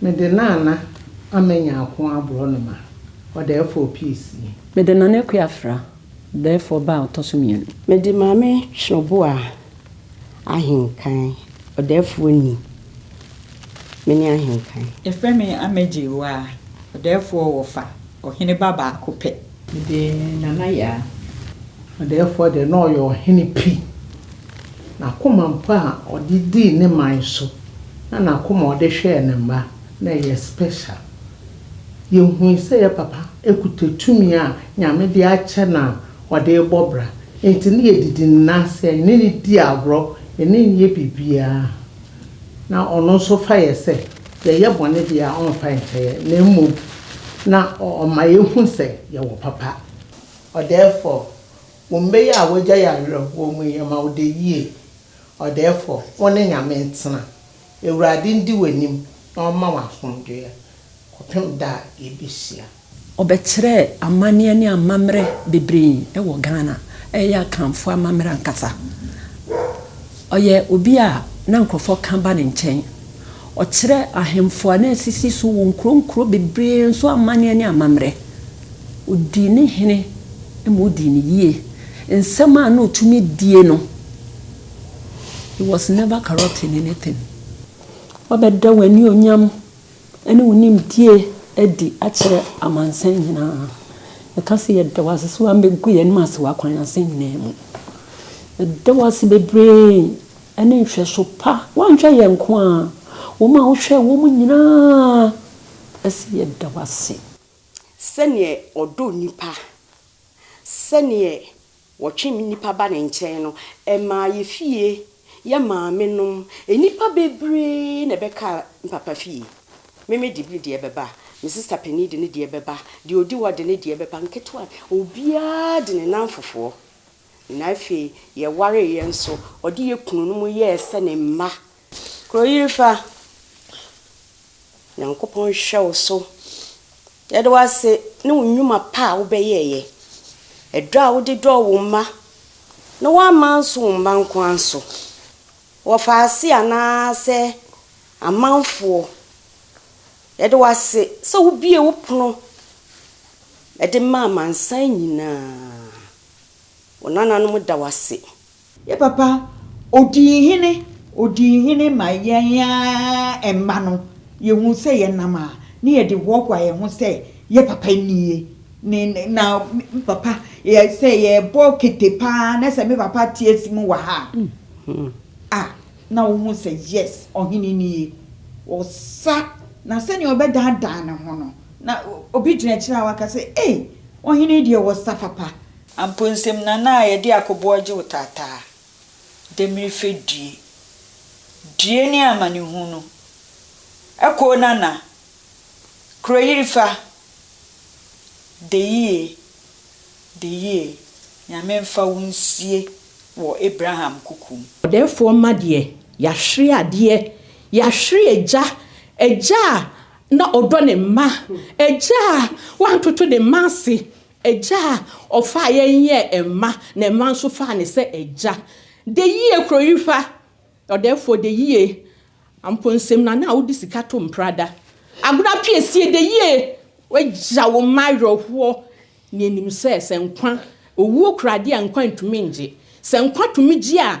Mede Nana Ama Nyarko aborɔnoma, ɔdaɛfoɔ piece yi. Mede Nana Akua Afra, ɔdaɛfoɔ ba a ɔtɔ so mmienu. Mede Maame Twerɛboa Ahenkan, ɔdaɛfoɔ ni, me ne Ahenkan. Yɛfrɛ me Ama Gyewaa, ɔdaɛfoɔ wɔ fa, ɔhene ba baako pɛ. Mede Nana Yaa. Ɔdɛɛfoɔ deɛ na ɔyɛ ɔhene pi. N'akoma mpo a ɔde dii ne man so na n'akoma a ɔde hwɛɛ ne mma na ɛyɛ special. Yɛhui sɛ yɛ papa kuta tumi a Nyame de akyɛ no a ɔde rebɔ bra nti na yɛdidi ne nan ase a yɛne no di agorɔ, yɛne no yɛ biribiara na ɔno nso fa yɛ sɛ. Yɛyɛ bɔne deɛ a, ɔmfa nkyɛeɛ, na mmom na ɔma yɛhu sɛ yɛwɔ papa. Ɔdɛɛfɔ, Wo mba yi a w'agya yarerɛ wɔ mu yi, yɛma wo dɛ yie. Ɔdɛɛfɔ, Wo ne Nyame ntena. Awurade ndi w'anim na ɔmma wo asomdwoeɛ kɔpem da a yɛbɛhyia. Ɔbɛkyerɛɛ amanneɛ ne amammerɛ bebree wɔ Ghana, ɛyɛ Akanfoɔ amammerɛ ankasa. Ɔyɛ obi a na nkorɔfoɔ ka ba ne nkyɛn. Ɔkyerɛ ahemfo a na asisi so wɔ nkuro nkuro bebree nso amanneɛ ne amammerɛ. Ɔdii ne hene ma ɔdii no yie. Nsɛm a na ɔtumi die no, he was never corrupt in anything. Wabɛda w'anionyam ne wo nimdie adi akyerɛ amansan nyina ara. Yɛka sɛ, Yɛda wo ase sɛ woammɛgu yɛn ase wɔ akwan ase nyina ara mu. Yɛda wo ase bebree ne nhwɛso pa. Woanhwɛ yɛn nko ara, wɔn a wohwɛɛ wɔn nyina ara ɛse yɛda wo ase. Sɛdeɛ ɔdɔ nnipa, sɛdeɛ Wɔtwem nnipa ba ne nkyɛn no, ɛmaa yɛ fie, yɛ maamenom, nnipa bebree na ɛbɛkaa me papa fie. Meme de me deɛ bɛba, me sista panin de ne deɛ bɛba, deɛ ɔdi hɔ de ne deɛ bɛba, nketewa, obiara de ne nnamfofoɔ. Na afei yɛwareeɛ nso, ɔde yɛ kununom yɛɛ sɛ ne mma. Kuro yiri fa. Nyankopɔn nhwɛ wo so. Yɛde wo ase ne wo nnwuma pa a wobɛyɛɛyɛ. Ɛdɔ a wode dɔɔ wo mma, na woamma anso wo mma nko ara so. Wɔfaase anaa sɛ amanfoɔ. Yɛde wo ase sɛ wo bue wo pono ɛde ma amansan nyinaa. Wo nananom da wo ase Yɛ papa, ɔdii hene, ɔdii hene ma yɛn ara mma no, yɛhuu sɛ yɛnam a ne yɛde hoahoa yɛn ho sɛ yɛ papa nie, ne, na me papa, yɛ, sɛ yɛrebɔ kete pa ara na sɛ me papa te asi mu wɔ ha a, na wohu sɛ yes, ɔhene nie. Ɔsa, na sɛdeɛ ɔbɛdaadaa ne ho no, na obi gyina akyire a waka sɛ, ei, ɔhene yi deɛ ɔsa papa, Amponsem na na yɛde akoboɔ gye wo taataa, demmire fɛ due, due ne amanehunu, ɛkoo nana, kuroyiri fa, deyie, deyie, Nyame mfa wo nsie wɔ Abraham kuku mu. Ɔdɛɛfoɔ mma deɛ, yɛahwere adeɛ, yɛahwere agya, agya a na ɔdɔ ne mma, agya a wantoto ne mma ase, Agya a ɔfaa yɛn yɛɛ mma na mma nso faa no sɛ agya. De yie kuro yi fa. Ɔdɛɛfoɔ de yie. Amponnsem nana a wode sika to mpra da. Agorɔ apiesie de yie. W'agya wo mma awerɛhoɔ. Nea nim sɛ sɛ nkwa, owuo kura adeɛ a nkwa ntumi ngye. Sɛ nkwa tumi gye a,